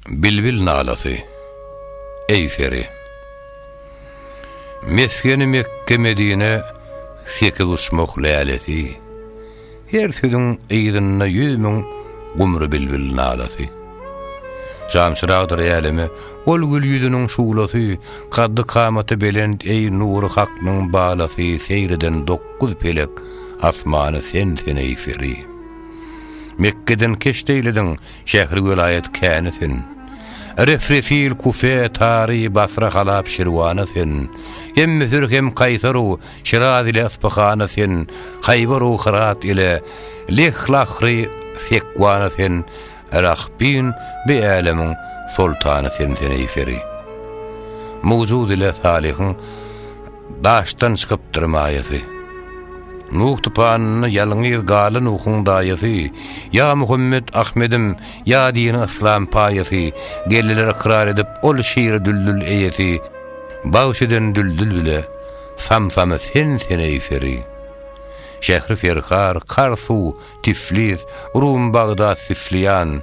Bilbil nalasy. Eý peri. Mesgeni Mekge-Medine sekiz uçmak lälesi. Her sözüň yzynda ýüz müň gumry bilbil nalasy. Jançyragdyr äleme ol gül ýüzüniň şuglasy, kaddy-kamaty belent eý nury Haknyň balasy, seýr eden dokuz pelek asmany sensiň eý peri. Mekgeden keşt eýlediň, Şähri welaýat käni sen. Refrefil, Kufe, Tary, Basra, Halap, Şirwana sen. Hem Müsür, hem Kaýsaru, Şiraz ile Yspyhana sen. Haýbaru, Hyrat ile Leh, Lahry, Sekwana sen. Rahbin, bi älemiň soltany sen-sen eý peri. Mowjud ile Salyhyň. Daşdan çykypdyr maýasy. Nuh tupanynda ýalňyz galan Nuhuň daýasy, Ýa Muhammet, Ahmedim, ýa dini yslam paýasy, Geldiler ykrar edip ol şiri düldül eýesi, Bagş eden düldül bile, samsamy sensen eý peri. Şähri Ferhar, Karsu, Tiflis, Rum, Bagdat, Sifliýan,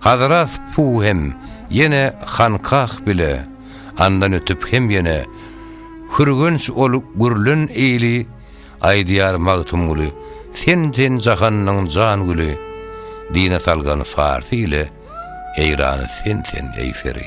Hazrat Pu hem ýene Hankah bile, andan ötüp hem ýene, Hürgenç ol gürlen eýli, Aýdýar Magtymguly, Sen, sen jahanyň jan güli, Dine salgan Farsy ile, Eýrany sen, sen, eý Feri.